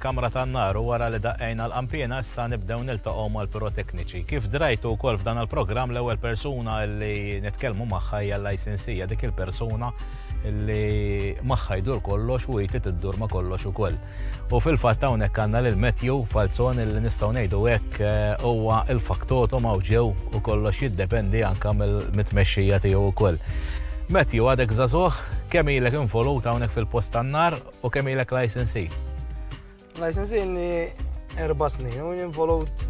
Kamra tan-nar u wara li daqqejna l-qanpiena issa nibdew niltaqgħu mal-pirotekniċi. Kif drajtu wkoll f'dan il-programm l-ewwel persuna li nitkellmu magħha hija l-licensee hija dik il-persuna li magħha jdur kollox u hi trid iddur ma' kollox ukoll. U fil-fatt hawnhekk għandna lil Matthew Falzon li nistgħu ngħidu hekk huwa l-faktotum hawn ġew u kollox jiddependi anke mit-tmexxija tiegħu wkoll. Matthew għadek żagħżugħ, kemm ilek involut hawnhekk fil-post tan-nar? U kemm ilek licensee? Licensee inni erba' snin u jinvolut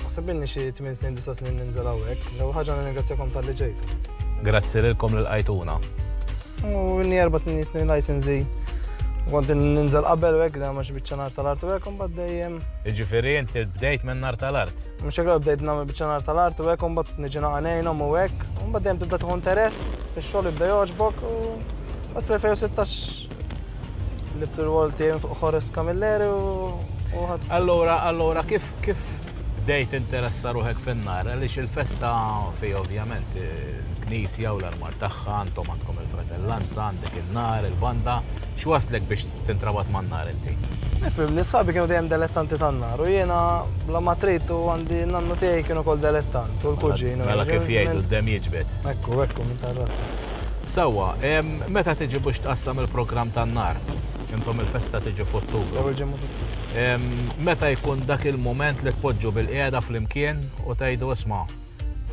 naħseb inni xi 8 snin, 9 snin ninżel hawnhekk. L-ewwel ħaġa nirringrazzjakom tal-li ġejt. Grazzi lilkom lil qajtuna. U inni erba' snin jisni licensee. Kont ninżel qabel u hekk da ma xi biċċa nar tal-art u hekk imbagħad dejjem. Jiġifieri inti bdejt minn nar tal-art. Mhux hekk bdejt nagħmel biċċa nar tal-art u hekk imbagħad niġi naqanejnhom u hekk. Imbagħad dejjem tibda tieħu interess fix-xogħol jibda jogħġbok u Bat fl-2016 libt il-wol tiegħi fuq Horace Camilleri u ħadd. Allura, allura kif kif bdejt interessa ruħek fin-nar għaliex il-festa fi ovvjament il-knisja u l-armar tagħha għandhom għandkom il-fratellanza, għandek in-nar, il-banda, x'waslek biex tintrabat man-nar inti? Nifhem, nisħabi kienu dejjem delettanti tan-nar u jiena bla ma trid u għandi nannu tiegħi kienu kol delettant u l-kuġin. Mela kif jgħidu d-dem jiġbed. Ekku, ekku, minn tar-razza. Sewwa, meta tiġi biex tqassam il-programm tan-nar? Intom il-festa tiġi f'Ottubru. L-ewwel ġimgħa f'Ottubru. Meta jkun dak il-mument li tpoġġu bilqiegħda flimkien u tgħidu isma',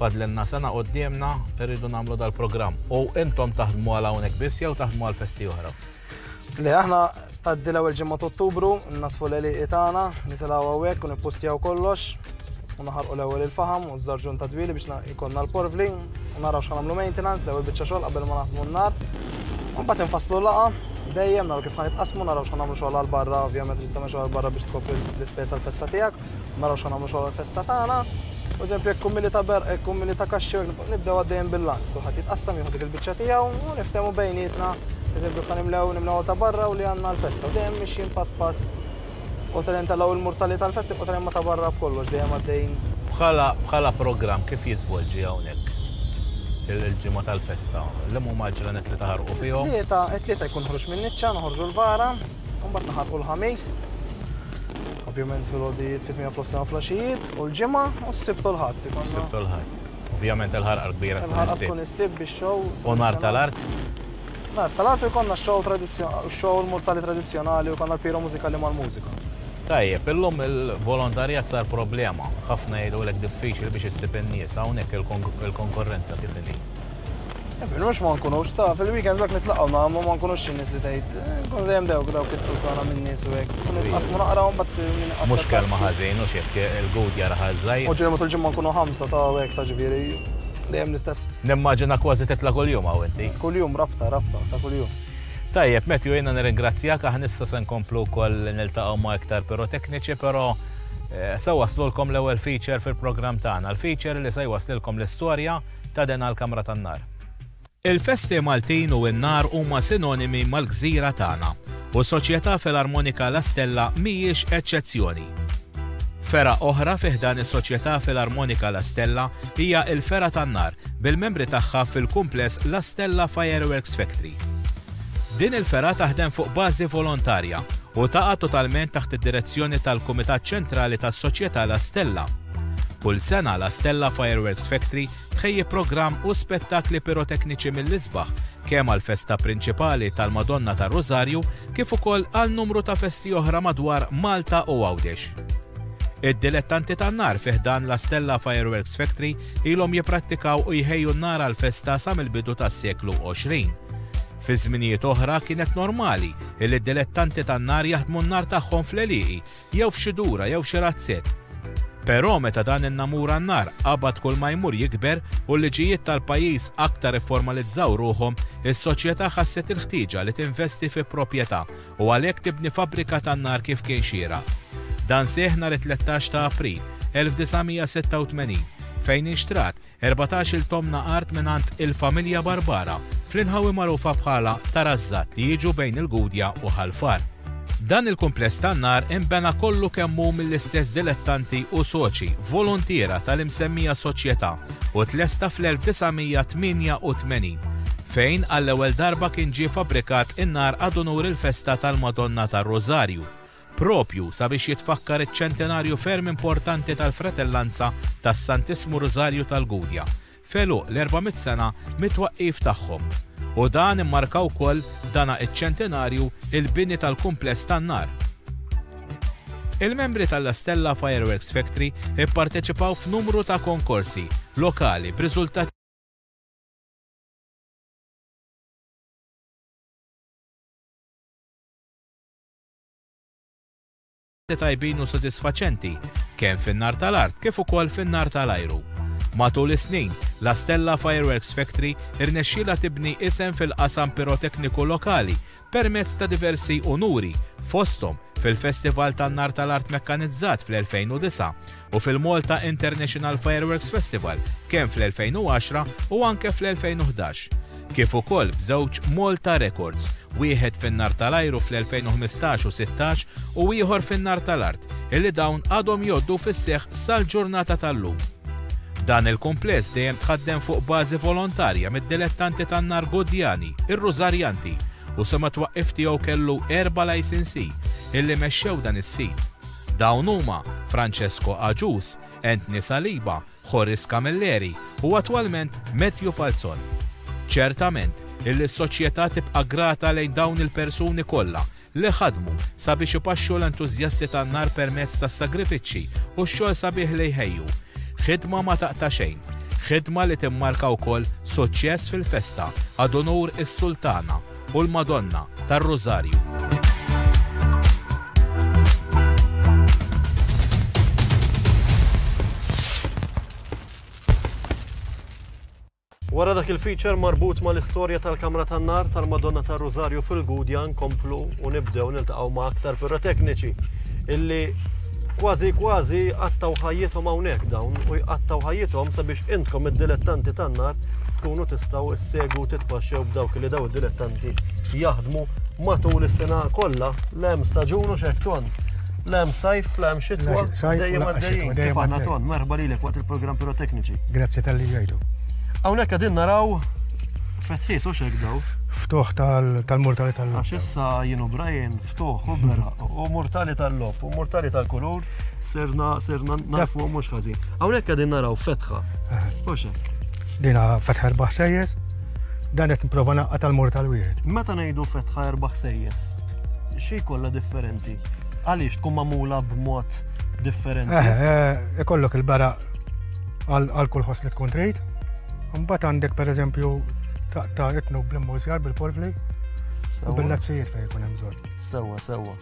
fadlilna sena quddiemna, irridu nagħmlu dal-programm. U intom taħdmu għal hawnhekk biss jew taħdmu għal festi oħra? Le, aħna tgħaddi l-ewwel ġimgħa ta' Ottubru, nasfu l-eliqi tagħna, nitilgħu hawnhekk u nippustjaw kollox u naħarqu l-ewwel il-faħam u żarġun ta' dwili biex ikonna l-porvli u naraw x'ħanamlu maintenance l-ewwel biċċa xogħol qabel ma naħdmu n-nar. Mbagħad infasslu laqa dejjem naraw kif ħanitqasmu naraw x'ħanamlu xogħol għal barra, ovvjament ġid tagħmel xogħol barra biex tkopri l-ispejs għall-festa tiegħek. Naraw x'għan nagħmlu xogħol festa tagħna. U eżempju jekk kummili ta' berq, jekk kummili ta' kaxxi, nibdew għaddejjem bil-lant. Kulħadd jitqassam jieħu dik il-biċċa tiegħu u niftehmu bejnietna. Eżempju kan nimlew nimlew ta' barra u li għandna l-festa. U dejjem mixjin pass pass. U tal tal il-murtali tal-festa u tal ma ta' barra b'kollox dejjem għaddejn. Bħala bħala programm kif jiżvolġi hawnhekk? il-ġimgħa tal-festa. L-imma maġranet li taħarqu fihom. Tlieta, tlieta jkun ħruġ minn niċċa, noħorġu l-vara. Mbagħad naħarqu l-Ħamis, ovvjament fil-għodijiet fit-8 fl-ofsna u fl-għaxijiet, u l-ġimgħa u s-sibt u l-ħadd. Sibt u l-ħadd. Ovvjament il-ħarqa kbira tkun is-sibt. Tkun is-sibt bix-xow. U nar tal-art? Nar tal-art u jkollna xow tradizzjonali, xow mortali tradizzjonali u konna l-piro mużikali mal-mużika. Tajjeb, illum il-volontarjat sar problema. Ħafna jgħidu l-ek diffiċli biex issib in-nies hawnhekk il-konkurrenza kif inhi. Nfinux ma nkunux ta' fil-weekend dak nitlaqgħu nagħmlu ma nkunux xi nies li tgħid eh, nkun dejjem dewk dawk it-tużana minn nies u hekk. Kun nitqasmu naqraw mbagħad minn Mhux kelma ħażin u xek il-gud jara ħażżaj. U ġej matul ġimgħa nkunu ħamsa ta' hekk ta' ġifieri dejjem l-istess. Nimmaġina kważi titla' kuljum hawn inti. Kuljum rabta rabta ta' kuljum. Tajjeb, Matthew, jiena nirringrazzjak aħna issa se nkomplu wkoll niltaqgħu ma' iktar pirotekniċi, però eh, se waslulkom l-ewwel feature fil-programm tagħna. L-feature li se jwaslilkom l-istorja ta' den għall-kamra tan-nar. Il-festi Maltin u n-nar huma sinonimi mal-gżira tagħna, u s-Soċjetà Filarmonika La Stella mhijiex eċċezzjoni. Fergħa oħra fi ħdan is-Soċjetà Filarmonika La Stella hija l-Fergħa tan-Nar, bil-membri tagħha fil-kumpless La Stella Fireworks Factory. Din il-fergħa taħdem fuq bażi volontarja u taqa' totalment taħt id-direzzjoni tal-Kumitat Ċentrali tas-Soċjetà La Stella. Kull sena La Stella Fireworks Factory tħejji programm u spettakli pirotekniċi mill-isbaħ kemm għall-festa prinċipali tal-Madonna tar-Rużarju kif ukoll għal numru ta' festi oħra madwar Malta u Għawdex. Id-dilettanti tan-nar fi ħdan La Stella Fireworks Factory Ilhom jipprattikaw u jħejju n-nar għall-festa sa mill-bidu tas-seklu 20. Fi żminijiet oħra kienet normali illi d-dilettanti tan-nar jaħdmu n-nar tagħhom fl-għelieqi jew f'xi dura jew xi razzett. Però meta dan in-namur għan-nar qabad kull ma jmur jikber u l-liġijiet tal-pajjiż aktar ifformalizzaw ruħhom, is-soċjetà ħasset il-ħtieġa li tinvesti fi proprjetà u għalhekk tibni fabbrika tan-nar kif kien xieraq. Dan seħħ nhar it-tlettax ta' April, 1986, fejn inxtrat erbatax-il tomna art mingħand il-familja Barbara fl-inħawi magħrufa bħala Tarażżat li jiġu bejn il-Gudja u Ħal Far. Dan il-kumpless tan-nar inbena kollu kemm hu mill-istess dilettanti u soċi voluntiera tal-imsemmija soċjetà u tlesta fl-1988. fejn għall-ewwel darba kien ġie fabbrikat in-nar ad unur il-festa tal-Madonna tar-Rużarju, propju sabiex jitfakkar iċ-ċentenarju ferm importanti tal-Fratellanza tas-Santissmu Rużarju tal-Gudja, f'għeluq l-400 sena mit-twaqqif tagħhom. U dan immarka wkoll dana iċ-ċentenarju il-bini tal-kumpless tan-nar. Il-membri tal-La Stella Fireworks Factory ipparteċipaw f'numru ta' konkorsi lokali b'riżultati tajbin u sodisfaċenti kemm fin-nar tal-art kif ukoll fin-nar tal-ajru. Matul is-snin, La Stella Fireworks Factory irnexxielha tibni isem fil-qasam pirotekniku lokali permezz ta' diversi unuri, fosthom fil-Festival tan-Nar tal-Art Mekkanizzat fl-2009 u fil-Malta International Fireworks Festival kemm fl-2010 u anke fl-2011, kif ukoll b'żewġ Malta Records, wieħed fin-Nar tal-Ajru fl-2015 u 16 u ieħor fin-Nar tal-Art. illi dawn għadhom jgħoddu fis-seħħ sal-ġurnata tal-lum. Dan il-kumpless dejjem tħaddem fuq bażi volontarja mid-dilettanti tan-nar Gudjani, ir-Rużarjanti, u sa mat-twaqqif tiegħu kellu erba' lajsinsij illi mexxew dan is-sit. Dawn huma Francesco Agius, Anthony Saliba, Horace Camilleri u attwalment Matthew Falzon. Ċertament, illi s-Soċjetà tibqa' grata lejn dawn il-persuni kollha li ħadmu sabiex ipaxxu l-entużjasti tan-nar permezz tas-sagrifiċċji u x-xogħol sabiħ li jħejju. Ħidma ma taqta' xejn. Ħidma li timmarka wkoll suċċess fil-festa għad unur is-Sultana u l-Madonna tar-Rużarju. Wara dak il-feature marbut mal-istorja tal-Kamra tan-Nar tal-Madonna tar-Rużarju fil-Gudja nkomplu u nibdew niltaqgħu ma' aktar pirotekniċi illi kważi kważi qattgħu ħajjithom hawnhekk dawn u jqattgħu ħajjithom sabiex intkom id-dilettanti tan-nar tkunu tistgħu ssegwu u titpaxxew b'dawk illi dawn id-dilettanti jaħdmu matul is-sena kollha. Le hemm staġun u x'hekk ton. L-hemm sajf, l-hemm xitwa, dejjem għaddejjin. Kif għandna ton, merħba lilek waqt il-programm pirotekniċi. Grazzi tal-li ġejtu. Hawnhekk qegħdin naraw fetħiet u xek daw. Ftuħ tal-mortali tal lop Għax issa jienu Brian ftuħ u bera u mortali tal lop u mortali tal-kulur serna serna nafu mhux ħażin. Hawnhekk qegħdin naraw fetħa. U xek. Dina fetħa erbaħ sejjes, dan qed nipprova naqqa' tal-mortal wieħed. Meta ngħidu fetħa erbaħ sejjes, xi kollha differenti? Għaliex tkun magħmula b'mod differenti? Eh, eh, ikollok il-bara għal kull ħoss li tkun trid. Mbagħad għandek pereżempju ta' itnu bl-immużjar bil-porfli u bil-lazzijiet fejn jkun hemm bżonn. Sewwa, sewwa.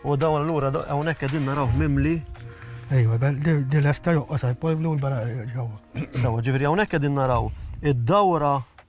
U dawn allura hawnhekk qegħdin naraw mimli Ejwa, di l-esta joqqos għal-polvlu l-bara ġewwa. Sawa, ġifiri hawnhekk qegħdin naraw id-dawra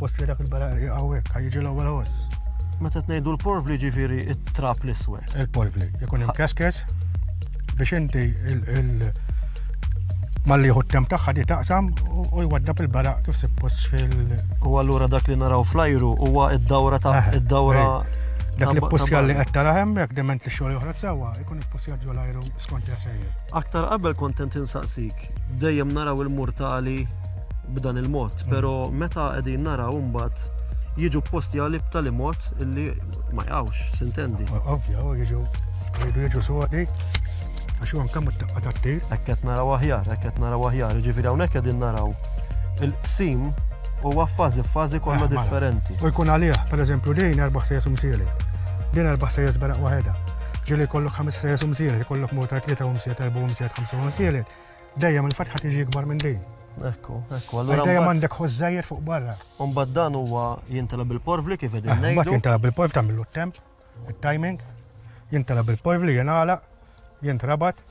Post li dak il-barari għawek, għajġi l-ewwel ħoss. Meta tnejdu l-porvli ġifiri it-trap l-iswed. Il-porvli, jkun hemm keskes biex inti malli jħu t-temp tagħha di taqsam u jwaddab il-baraq kif suppost fil. U allura dak li naraw flajru huwa id-dawra ta' eh, id-dawra. Eh, dak li pussja li qed tara hemmhekk dement li xogħol joħroġ sewwa jkun ippussja ġol ajru skont jasejjer. Aktar qabel kontent insaqsik, dejjem naraw il-murtali b'dan il-mod, pero meta qegħdin naraw mbagħad jiġu posti għalli b'tali mod illi ma jgħawx, sintendi. Ovvja, jiġu jridu jiġu sodi għax huwa nkemm it-taqqa tat-tir. Hekk qed naraw aħjar, hekk qed naraw aħjar, ġifieri hawnhekk qegħdin naraw il-qsim huwa fażi fażi kollha eh, differenti. U jkun għalih, pereżempju din erba' sejjes umsieli. Din erba' sejjes beraq waħedha. Ġieli jkollok ħames sejjes umsieli, jkollok mota tlieta umsiet, erba' umsiet, ħamsa umsieli. Dejjem il-fatħa tiġi ikbar minn din. Ekku, ekku, allura. Dejjem għandek ħożżajjer fuq barra. Umbad dan huwa jintela bil-porvli kif qegħdin ngħidu. Mbagħad jintela bil-porvli tagħmlu t-temp, it-timing, jintela bil-porvli jingħala, jintrabat,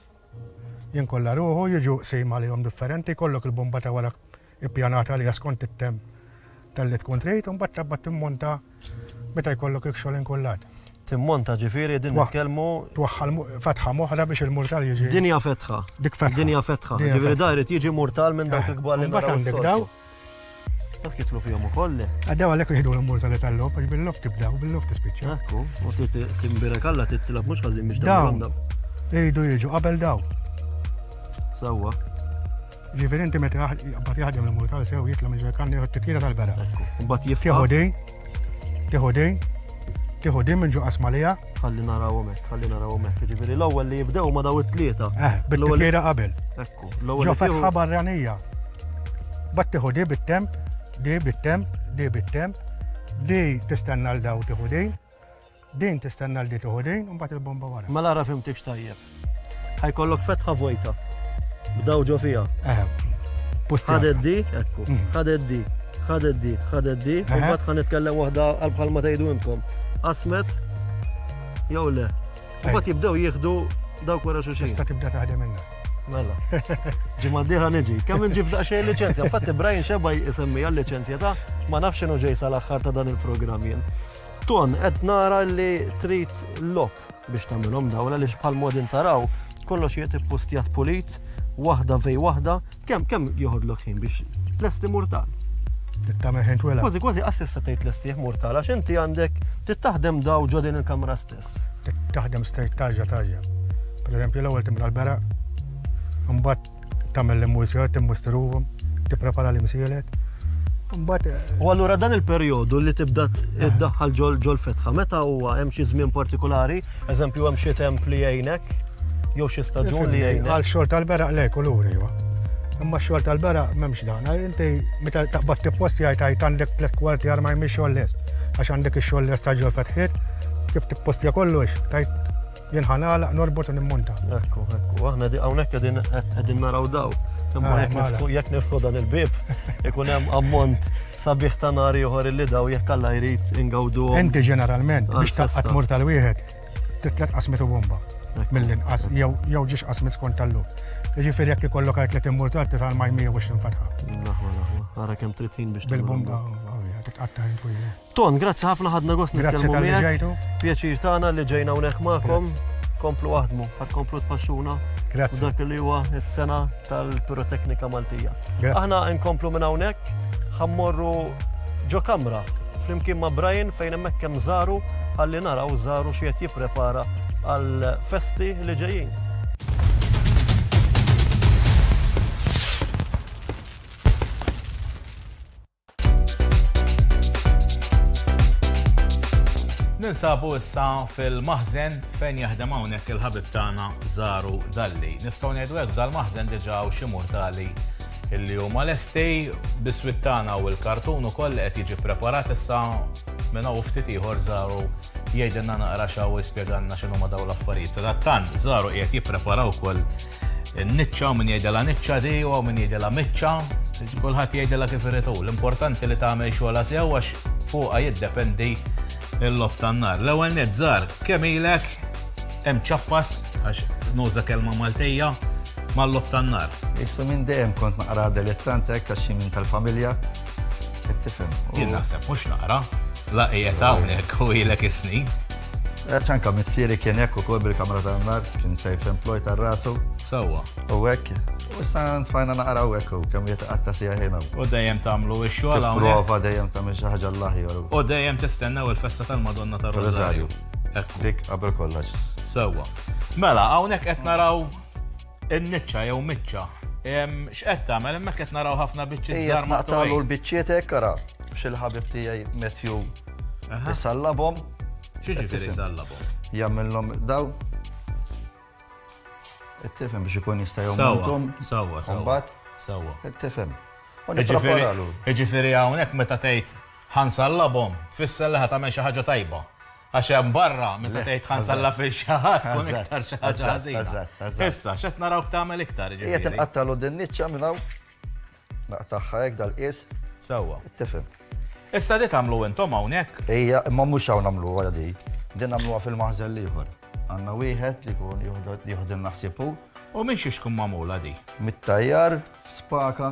jinkolla ruħu, jiġu qsim għalihom differenti, kollok il-bomba ta' wara ippjanat għaliha skont it-temp tal-li tkun trid, u mbagħad tabba timmonta meta jkollok ikxol inkullat. Timmonta ġifieri din nitkellmu. Twaħħal fetħa moħra biex il-murtal jiġi. Dinja fetħa. Dik fetħa. Dinja fetħa. Ġifieri da jrid jiġi murtal minn dawk il-kbar li mbagħad għandek daw. Dak jitlu fihom ukoll. Għaddew għalhekk jieħdu l-murtali tal-lob għax bil-lob tibda u bil-lob tispiċċa. Ekku, u timbirek alla titlab mhux ħażin biex dawn. Iridu jiġu qabel daw. Sewwa. Ġifieri inti meta jaqbad jaħdem il-murtal sew jitla minn ġerkan jieħu t-tikjira tal-bera. Mbagħad jifħu dej, tieħu dej, tieħu dej minn ġo qasmalija. Ħalli narawhom hekk, ħalli narawhom hekk. Ġifieri l-ewwel li jibdew ma daw it-tlieta. Eh, bit-tikjira qabel. Ekku, l-ewwel. Ġo fetħa barranija. Bat tieħu dej bit-temp, dej bit-temp, dej bit-temp, dej tistenna l-daw tieħu dej. Din tistenna l-di tieħu din u mbagħad il-bomba wara. Ma lara fimtikx tajjeb. Ħajkollok fetħa vojta. B'daw ġo fiha. Eh, pusti. Ħadet di, ekku. Mhm. Ħadet di, ħadet di, ħadet di. U mbagħad ħan nitkellem waħda għal bħal ma tgħidu intom. Asmet jew le. Mbagħad jibdew jieħdu dawk wara xi xi. Tista' tibda taħdem minna. Mela. Ġimma diħa niġi. Kemm nġib daqxej licenzja. Fatti Brian xebaj isemmi għal-licenzja ta' ma nafx xinu ġej sal-axħar ta' dan il-programm jien. Ton, qed nara li trid lop biex tagħmilhom dawla li bħal modin taraw kollox jiet ippustjat pulit, waħda vej waħda, kemm kemm joħodlok ħin biex lesti murtal. Tagħmel ħin twela. Kważi kważi qas tista' tgħid lestih murtal għax inti għandek tittaħdem daw ġo din il-kamra stess. Taħdem straight tarġa tarġa. Per eżempju l-ewwel timla l-bera, mbagħad tagħmel l-immużjar, timmustruhom, tipprepara l-imsielet. U allura dan il-perjodu li tibda iddaħħal ġol fetħa, meta huwa hemm xi żmien partikolari, eżempju hemm xi temp li jgħinek, jew xi staġun li jgħinek. Għal xogħol tal-beraq le kulur iva. Imma xogħol tal-beraq m'hemmx dan. Inti meta taqbad tippost jgħid għajt għandek tliet kwarti għar ma jmix xogħol lest. Għax għandek ix-xogħol lest ta' ġol fetħiet, kif tippostja kollox, tajt Jien ħa nagħlaq norbot u nimmonta. Ekku, ekku, aħna di hawnhekk qegħdin qegħdin naraw daw. Imma ah, jekk niftħu dan il-bib, ikun hemm ammont sabiħ ta' nar ieħor illi daw jekk alla jrid ingawdu. Inti ġeneralment biex taqgħad mur tal-wieħed titlet qasmet u bomba mill-inqas jew jew ġiex qasmet skont tal-lum. Jiġifieri jekk ikollok għajt li timmur tal titgħal ma jmija biex tinfatħa. Naħwa, naħwa. Ara kemm 30 biex. Bil-bomba, titqatta' Ton, grazzi ħafna ħadna gost nitkellmu miegħek. Pjaċir tagħna li ġejna hawnhekk magħkom. Komplu aħdmu, ħad komplu tpaxxuna. Grazzi. Dak li huwa s-sena tal-piroteknika Maltija. Aħna nkomplu minn hawnhekk ħammorru ġo kamra flimkien ma' Brian fejn hemmhekk hemm żaru ħalli naraw żaru xi qed jipprepara għal festi li ġejjin. Ninsabu issa fil-maħzen fejn jaħdem hawnhekk il-ħabib tagħna Zaru Dalli. Nistgħu ngħidu hekk dal-maħzen diġà u xi mortali illi huma lesti biswit tagħna u l-kartun ukoll qed jiġi preparat issa minn hawn ftit ieħor Zaru jgħidilna naqra xaw jispjegalna x'inhu ma daw l-affarijiet. Sadattant Zaru qiegħed jipprepara wkoll Niċċa, min jgħidela niċċa di, u min jgħidela miċċa, kulħadd jgħidela kif irid hu. L-importanti li tagħmel xogħla sew għax fuqha jiddependi l-lob tan-nar. L-ewwel nizzar, kemm ilek hemm ċappas għax nuża kelma Maltija mal-lob tan-nar. Issu minn dejjem kont naqra dilettant hekk għax minn tal-familja. Qed tifhem. Jien naħseb mhux naqra, la qiegħed hawnhekk u ilek is-snin. Għax anka missieri kien hekk ukoll bil-kamra tan-nar, kien safe employ tar rasu. Sewwa. U hekk. U issa tfajna naqraw hekk u kemm jitqatta sija ħina. U dejjem tagħmlu x-xogħol hawn. Prova dejjem tagħmel xi ħaġa l-aħjar. U dejjem tistennew il-festa tal-Madonna tar-Rożarju. Dik qabel kollox. Sewwa. Mela, hawnhekk qed naraw In-niċċa jew miċċa. X'qed tagħmel hemmhekk qed naraw ħafna biċċiet żgħar ma tagħmlu l-biċċiet hekk ara xil ħabib tiegħi Matthew isallabhom. X'ġifieri isallabhom? Jagħmilhom daw Ittifhem biex ikun jista' jommutom. Sawa, sawa. Sawa. Ittifhem. Iġifieri hawnhekk meta tgħid ħansallabhom, tfisser li ħadd tagħmel xi ħaġa tajba. Għax hemm barra, meta tgħid tħansalla fil xi ħadd, tkun iktar xi ħaġa ħażina. Issa, x'qed narawk tagħmel iktar ġifieri. Qiegħed inqattalu din niċċa minn hawn. Naqtagħha hekk dal-qies. Sewwa. Tifhem. Issa li tagħmlu intom hawnhekk. Ejja, imma mhux hawn nagħmlu wara di. Din nagħmluha fil-maħżel ieħor. Għandna wieħed li jkun jieħdilna ħsiebu. U minn xiex tkun magħmula di? Mit-tajjar, spaka,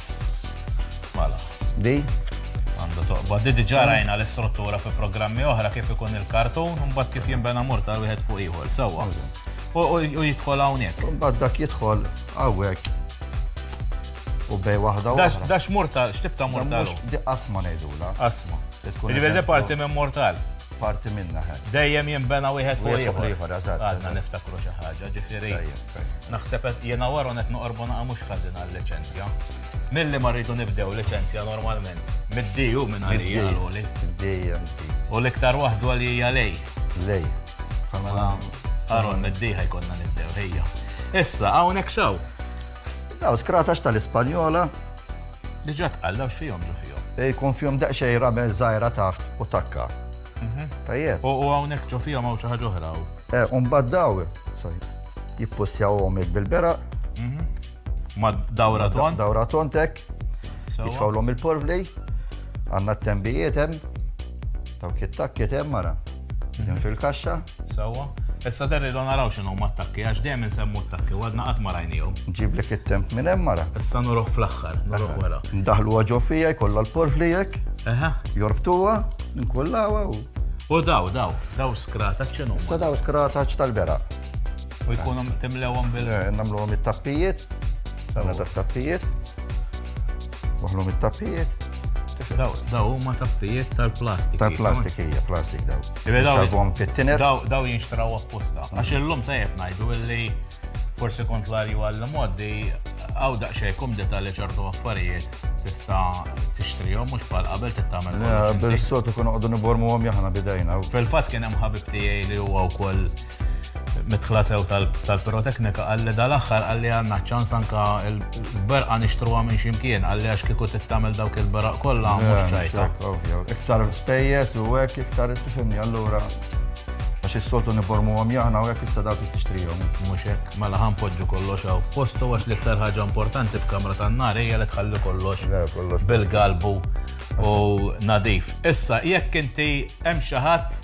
Mela. Di? Għandu toqba. Di diġà rajna l-istruttura fi programmi oħra kif ikun il-kartun, u mbagħad kif jinbena mortar wieħed fuq ieħor. Sewwa. U jidħol hawnhekk. Mbagħad dak jidħol hawnhekk u bej waħda waħda. Dax mortal, xtibta mortal. Di asma nejdula. Asma. Ġivir parti minn mortal. Parti minna ħed. Dejjem jimbena wieħed fuq ieħor. Għadna niftakru xi ħaġa, ġifieri. Naħseb qed jiena u Aaron qed noqorbu naqa' mhux ħażin għal-liċenzja. Milli ma rridu nibdew liċenzja normalment. Mid-D hu minn għalija l-għoli. U l-iktar waħda għalija lej. Lej. Mela Aaron mid-D ħajkonna nibdew ħejja. Issa hawnhekk xaw. Daw skratax tal-Ispanjola. Diġà tqallaw x'fihom ġo fihom. Jkun fihom daqsxejn ramel żgħira taħt u takka. Mhm. Tajjeb. U hawnhekk ġo fija ma' xi ħaġa oħra. Eh, u mbagħad daw jippustjawhom bil-bera. Mhm. Ma' dawra ton. Dawra ton tek. Jitfawlhom il-porvli, għandna t-tembijiet hemm, dawk it-takkiet hemm mara. Mhm. Fil-kaxxa. Sewwa. Issa der irdu naraw x'inhu ma attakki għax dejjem insemmu attakki u għadna qatt ma rajnihom. Ġiblek it-temp minn hemm mara. Issa nuruh fl-aħħar, nuruh wara. Ndaħlu ġo fija jkollha l-porfli hekk. Eħe. Jorbtuha, nkullawha u. U daw, daw, daw skrataċ x'inhu. Issa daw skrataċ tal-bera. U jkunu timlewhom bil. Eh, Namluhom it-tappijiet. Sana ta' tappijiet. Waħlhom it-tappijiet. Daw, daw huma tappijiet tal-plastik. Tal-plastik hija, plastik daw. Salvom fit-tiner. Daw jinxtraw apposta. Għax illum tajjeb ngħidu illi forsi kontlarju għall-moddi għaw daqxej kum detali ċertu affarijiet tista tixtrihom mhux bħal qabel tittamel. Bil-sotu kun għodu nibormu għom jahna bidajna. Fil-fat kien hemm ħabib tiegħi li huwa wkoll midħla sew tal-piroteknika għalli dal-axħar għalli għanna ċans anka l-berqa nixtruwa minn ximkien għalli għax kiku t-tamil dawk il-beraq kolla mux ċajta. Iktar spejjes u għek iktar istifimni għallura għax il-soltu nibormu għom jahna u għek issa dawk t-ixtrijom. Muxek, mela ħan podġu kollox għaw posto għax li ktar ħagġa importanti f'kamra ta' nar hija li tħalli kollox bil-galbu u nadif. Issa, jekk inti hemm xi ħadd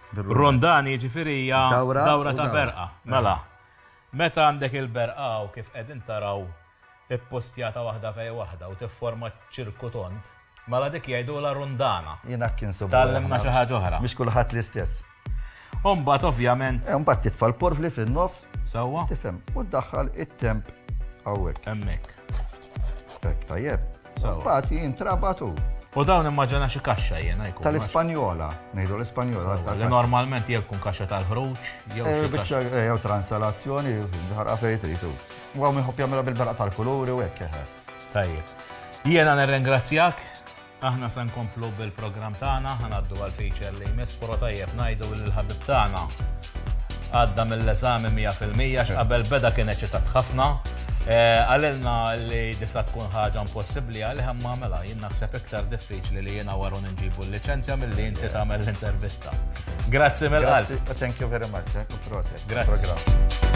Rondani jiġifieri hija dawra ta' berqa. Mela, meta għandek il-berqa u kif qegħdin taraw ippostjata waħda fej waħda u tifforma ċirku tond, mela dik jgħidulha rundana. Jien hekk insibuha. Tgħallimna xi ħaġa oħra. Mhix kulħadd l-istess. U mbagħad ovvjament. Eh, mbagħad titfa' l-porfli fin-nofs. Sewwa. Tifhem. U ddaħħal it-temp hawnhekk. Hemmhekk. Tajjeb. Pati jintrabat u. U dawn immaġina xi kaxxa jiena jkun. Tal-Ispanjola, ngħidu l-Ispanjola. Li normalment jew tkun kaxxa tal-ħruġ, jew eh, kaxxa. Eh, jew transalazzjoni, ħarqa fejn tridu. U għaw minħobb jagħmilha bil-beraq tal-kuluri u hekk eh. Tajjeb. Jiena nirringrazzjak, aħna se nkomplu bil-programm tagħna, ħanaddu għal feature li jmiss, però tajjeb ngħidu l-ħabib tagħna Għadda mill-eżami mija fil-mija x'qabel beda kien eċitat ħafna. Eh, Għalilna li disa tkun ħaġa impossibbli għalih imma mela jien naħseb iktar diffiċli li jiena waru nġibu l-liċenzja milli inti tagħmel l-intervista. Grazzi mill-qalb. Grazzi, thank you very much. eh, u proset. Grazzi. Programm.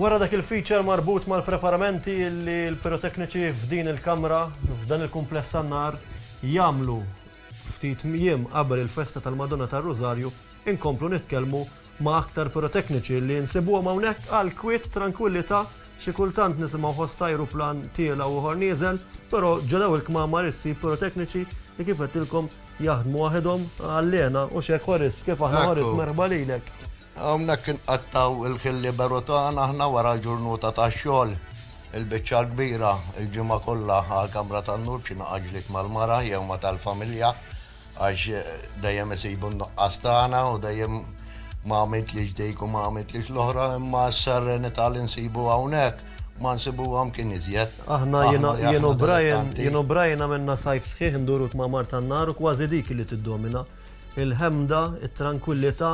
Wara dak il-feature marbut mal-preparamenti li l-pirotekniċi f'din il-kamra, f'dan il-kumpless tan-nar, jamlu ftit jiem qabel il-festa tal-Madonna tar-Rużarju, inkomplu nitkellmu Ma aktar pirotekniċi li nsibuhom hawnhekk għal kwiet, trankwillità, xi kultant nisimgħu ħoss ta' ajruplan tiela' u ieħor nieżel, però ġo dawn il-kmamar issib pirotekniċi li kif għedtilkom jaħdmu waħedhom għal hena u x'hekk Horis, kif aħna Horis, merħba lilek. Hawnhekk inqattgħu l-ħin liberu tagħna aħna wara l-ġurnuta tax-xogħol, il-biċċa l-kbira, il-ġimgħa kollha għall-kamra tan-nur b'xi naqa' ġlied mal-mara jew ma' tal-familja, Għax dejjem isibu n-nuqqas tagħna u dejjem ma għamiltlix dik u ma għamiltlix l-oħra, imma s-serenità li nsibu hawnhekk ma nsibuha mkien iżjed. Aħna jien u Brian, jien u Brian għamilna sajf sħiħ nduru t-tmamar tan-nar u kważi dik li tiddomina. Il-ħemda, it-trankwillità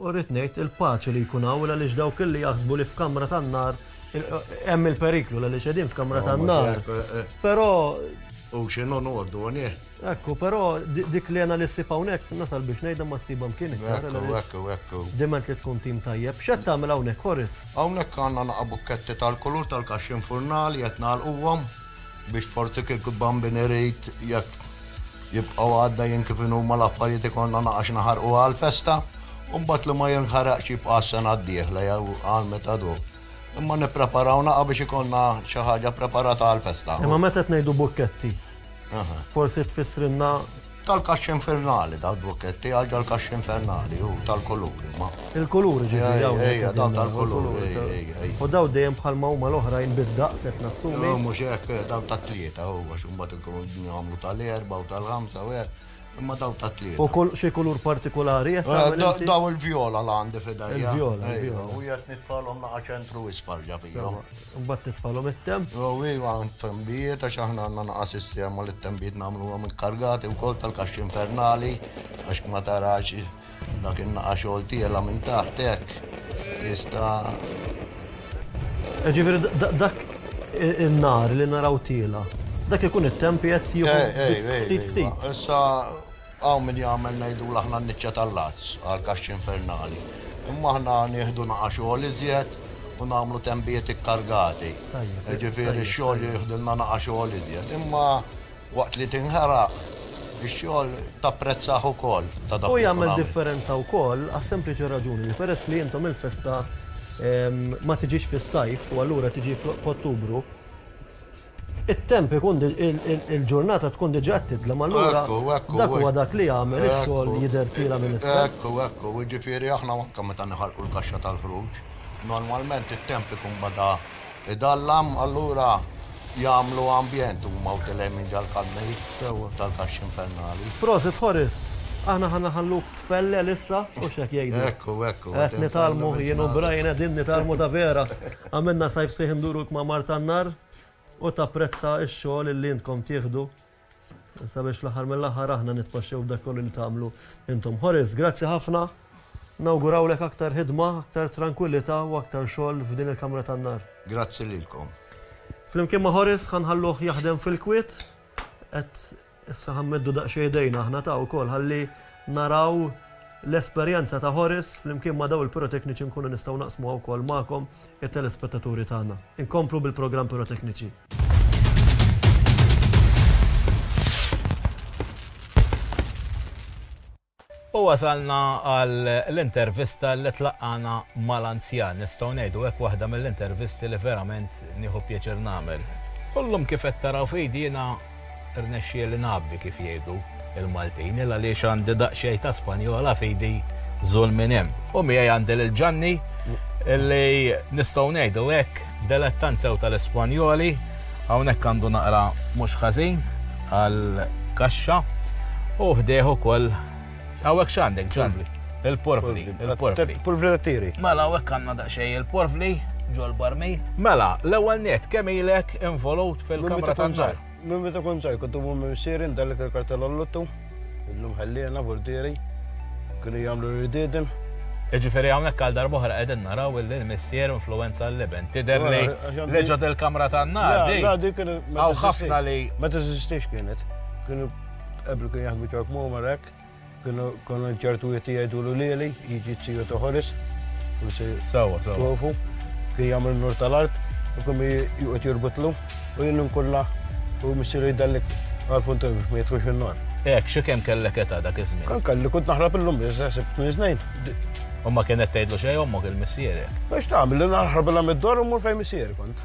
u rrid ngħid il-paċi li jkun hawn għaliex dawk illi jaħsbu li f'kamra tan-nar hemm il-periklu għaliex qegħdin f'kamra tan-nar. Però. U x'inhu ngħoddu, Ekku, però dik li għana li s-sib hawnhekk nasal biex ngħidha ma s-sibha mkien iktar. Ekku, ekku, ekku. Diment li tkun tim tajjeb. X'qed tagħmel hawnhekk, Horis? Hawnhekk għandna naqa' bukketti tal-kulur tal-kaxxi infurnali qed nagħlquhom biex forsi kieku bambin irid jekk jibqgħu għaddejjin kif inhuma l-affarijiet ikollna naqa' x'naħarqu għall-festa u mbagħad li ma jinħaraqx jibqa' għas-sena d-dieħla jew għal meta du. Imma nippreparaw naqa' biex ikollna xi ħaġa ppreparata għall-festa. Imma meta qed ngħidu bukketti, Forsi tfissrilna tal-kaxxa infernali da d-dwoketti, għagġa l-kaxxa infernali, u tal-kuluri, ma. Il-kuluri ġifiri, għaw. Ejja, daw tal-kuluri, ejja. U daw dejjem bħal ma huma l-oħrajn bid-daqs qed nassumi. U mhux hekk, daw ta' tlieta, u għax imbagħad ikunu jagħmlu tal-erba' u tal-ħamsa u hekk. Imma daw ta' tlieta. U kull xi kulur partikolari qed tagħmel. Eh, daw il-vjola l għandi fidejja. Il-vjola. U jgħid nitfalhom naqa' ċentru isfar ġabihom. Mbagħad titfalhom it-temp. Jew iva għand tembijiet għax aħna għandna naqa' sistema li t-tembijiet nagħmluhom il-kargati wkoll tal-kaxxi infernali għax ma tarax dak in-naqa' xogħol tiela minn taħt hekk. Jista' Ġifieri dak in-nar li naraw tiela, dak ikun it-temp jgħid jieħu ftit ftit. Issa Hawn min jagħmel ngħidulu aħna n-niċċa tal-għads għall-kaxxi infernali, imma aħna nieħdu naqa' xogħol iżjed u nagħmlu tenbijiet ikkargati. Jiġifieri x-xogħol jieħdilna naqa' xogħol iżjed, imma waqt li tinħeraq ix-xogħol tapprezzah ukoll ta' dak li tkun għamilt. U jagħmel differenza wkoll għas-sempliċi raġuni li peress li intom il-festa ma tiġix fis-sajf u allura tiġi f'Ottubru, It-temp ikun il-ġurnata tkun diġà qed tidlem allura dak huwa dak li jagħmel ix-xogħol jidher tila minn isfel. Ekku, ekku, jiġifieri aħna anke meta niħarqu l-kaxxa tal-ħruġ, normalment it-temp ikun bada jdallam allura jagħmlu ambjent huma u tilgħin minn ġall-kanni tal-kaxxi infernali. Prosit Horis, aħna ħa naħalluk tfellel issa, hux hekk jgħidu? Ekku, ekku. Qed nitgħallmu, jien u Brian qegħdin nitgħallmu ta' veras. Għamilna sajf sħiħ induru l-kmamar tan-nar u tapprezza x-xogħol li intkom tieħdu sabiex fl-aħħar mill-aħħar aħna nitpaxxew b'dak kollu li tagħmlu intom. Horace, grazzi ħafna. Nawgurawlek aktar ħidma, aktar trankwillità u aktar xogħol f'din il-kamra tan-nar. Grazzi lilkom. Flimkien ma' Horace ħa nħalluh jaħdem fil-kwiet, qed Issa ħa nmeddu daqsxejn idejna aħna ta' wkoll ħalli naraw l-esperjenza ta' Horace flimkien ma' dawn il-pirotekniċi nkunu nistgħu naqsmuha wkoll magħkom it-telespettaturi tagħna. Inkomplu bil-programm Pirotekniċi. U wasalna għal l-intervista li tlaqqagħna mal-anzjan, nistgħu ngħidu hekk, waħda mill-intervisti li verament nieħu pjaċir nagħmel. U llum kif qed taraw f'idi jiena rnexxieli ngħabbi kif jgħidu l-Maltin, il għaliex għandi daqsxejn ta' Spanjola f'idi żul minn hemm. U miegħi għandi lil Ġanni li nistgħu ngħidu hekk, Delettant sew tal-Espanjoli, hawnhekk għandu naqra mhux ħażin għal kaxxa u ħdejh ukoll hawnhekk x'għandek ġan? Il-porfli. Il-porfli tiri. Mela hawnhekk għandna daqsxejn il-porfli ġol barmi. Mela, l-ewwel net kemm ilek involut fil-kamra tan-nar? Minn meta kont żgħir kont immur ma' missieri ndellek il-kartella l-lottu, illum ħelliena, portieri kienu jagħmlu r-ridieden. Jiġifieri hawnhekk għal darb'oħra qegħdin naraw illi l-missier influwenza l-iben. Tidher li li ġo dil-kamra tan-nar di. Le, dik hawn ħafna li. Ma teżistix kienet. Kienu qabel kienu jaħdmu ċork mumar hekk. Kienu konu ċertu jieti jgħidulu lieli, jiġi t-siju ta' Horis, forsi Sawa, sawa. tufu, kien jagħmel nur tal-art, u kien juqgħod jirbutlu, u jien nkulla u missiru jdallek għal-funtin ma jitħux in-nar. Ek, xi kemm kellek età dak iż-żmien? Kan kalli kont naħrab illum biss, seħsib tmien snin. U ma kienet tgħidlu xejn ommok il-missierek. Biex tagħmel li naħrab il mid-dor u mur fejn missieri kont.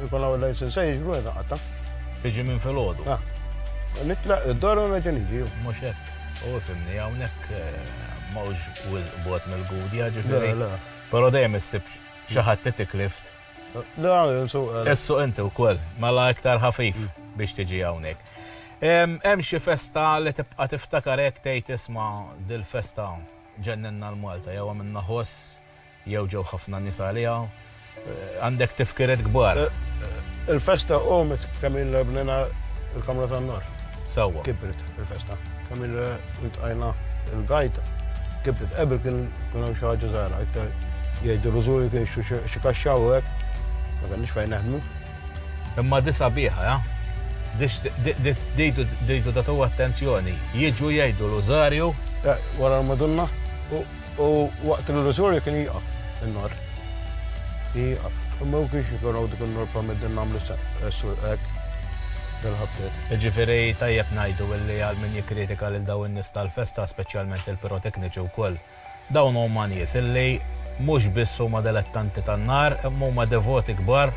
Jkun hawn il-lejl se jiġbru meta qatta'. Tiġi minn filgħodu. Ah. Nitlaq id-dar u nerġa' niġi. Mhux hekk. U fimni hawnhekk eh, mawx wisq bot mill-gudja ġifieri. Però dejjem issib xi ħadd tiklift. Da, nsuq. Eh. Issuq inti wkoll, mela iktar ħafif mm. biex tiġi hawnhekk. Hemm xi festa li tibqa' tiftakar hekk tgħid isma' dil-festa ġenninna l-Malta jew għamilna ħoss Jew ġew ħafna nies għaliha. Għandek tifkiriet kbar. Il-festa qomet kemm ilna bnejna l-kamra tan-nar. Sewwa. Kibret il-festa. Kemm ilna ltqajna l-gajta. Kibret. Qabel kien ikun hemm xi ħaġa żgħira iktar. Jgħidu l-użuri kien jixtru xi kaxxa u hekk. Ma kellniex fejn neħdmu. Imma di sabiħa, ha? Di trid tagħtuha attenzjoni. Jiġu jgħidu l-użarju. Wara l-Madonna u. U waqt l-illużorju kien jieqaf in-nar. Jieqaf. Imma u kienx jkun għawdu kun norpa mid-din namlu s-surqek dal-ħabtiet. Ġifiri tajjeb najdu illi għal min jikkritika lil daw in-nies tal-festa, speċjalment il-pirotekniċi wkoll, dawn huma nies illi mhux biss huma dilettanti tan-nar, imma huma devoti kbar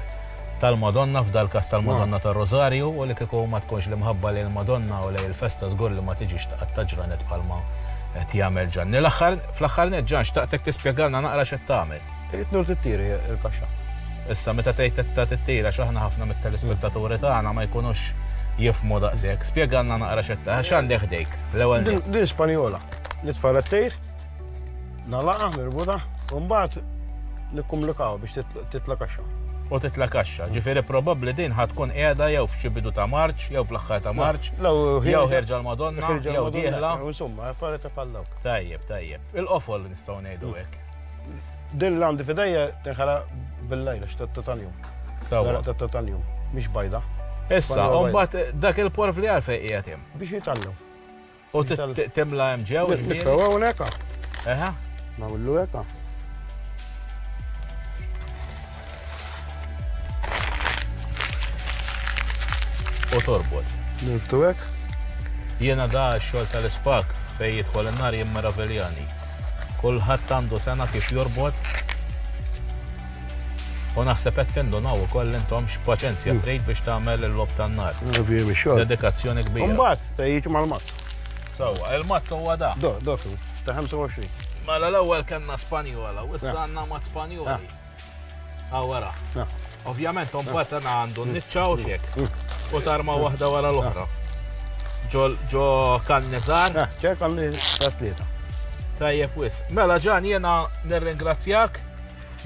tal-Madonna, f'dal-każ tal-Madonna tar-Rożarju, u li kieku ma tkunx l-imħabba lejn il-Madonna u lejn il-festa żgur li ma tiġix tqatta' ġranet bħalma qed jagħmel Ġanni. L-aħħar, fl-aħħar nett, Ġan, xtaqtek tispjegalna naqra x'qed tagħmel. Qed tmur tittiri l-kaxxa. Issa, meta tgħid qed tittiri għax aħna ħafna mit-telespettaturi tagħna ma jkunux jifhmu daqshekk, spjegalna naqra x'qed tagħmel. X'għandek ħdejk, l-ewwel nett? Din Spanjola li tfarrettejt. Nalaqa, nirbuta, u mbagħad nikkumlikaw biex titla' kaxxa. U titla' kaxxa, ġifieri probabbli din ħad tkun qiegħda jew f'xi bidu ta' Marċ, jew fl-aħħar ta' Marċ, jew ħerġa l-Madonna, jew dieħla. Insomma, affarijiet ta' bħal dawk. Tajjeb, tajjeb. Il-qofol nistgħu ngħidu hekk. Din li għandi f'idejja tinħala bil-lejla x'tat-tatanjum. Sawa. Tat-tatanjum, mhix bajda. Issa, u mbagħad dak il-porf li għalfejn qiegħed hemm. Biex jitgħallem. U timla hemm ġew. Nitfew hawnhekk hawn. Eħa. Nagħmlu hekk hawn. U torbot. Nirtu hekk. Jiena da x-xogħol tal-ispak fejn jidħol in-nar jien meraviljani. Kulħadd għandu sena kif jorbot. U naħseb qed tindunaw ukoll intom x'paċenzja mm. trid biex tagħmel il-lob tan-nar. Dedikazzjoni kbira. Jiġu mal-mazz. Sawa, il-mazz huwa da. Do, do, ta' 25. Mela l-ewwel kellna Spanjola, u issa għandna mat Spanjoli. Ah, wara. Ovvjament, mbagħad għana għandu niċċa u xek. U tarma waħda wara l-oħra. Ġo kannizar. ċer kannizar tlieta. Tajjeb wis. Mela ġan jena nirringrazzjak.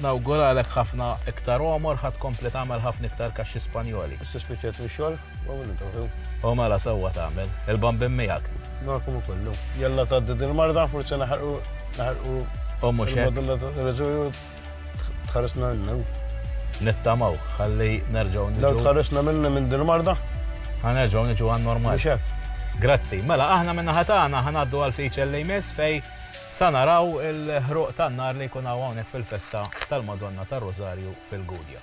Nawguralek ħafna iktar omor, ħat kompli tagħmel ħafna iktar kaxxi Spanjoli. Issa spiċċet mix-xogħol. U mela sewwa tagħmel, il-bambin miegħek. Nakum ukollu. Jalla tgħaddi din marda forsi naħarqu naħarqu. U mhux hekk. Tħarisna l-new. Nittamaw, ħalli nerġgħu niġu. Law tħarisna minna minn din marda? Ħanerġgħu niġu għan normal. Grazzi. Mela aħna minna ħatana ħanaddu għal fiċel li jmiss fej sa naraw il-ħruq tan-nar li jkun hawnhekk fil-festa tal-Madonna tar-Rożarju fil-Gudja.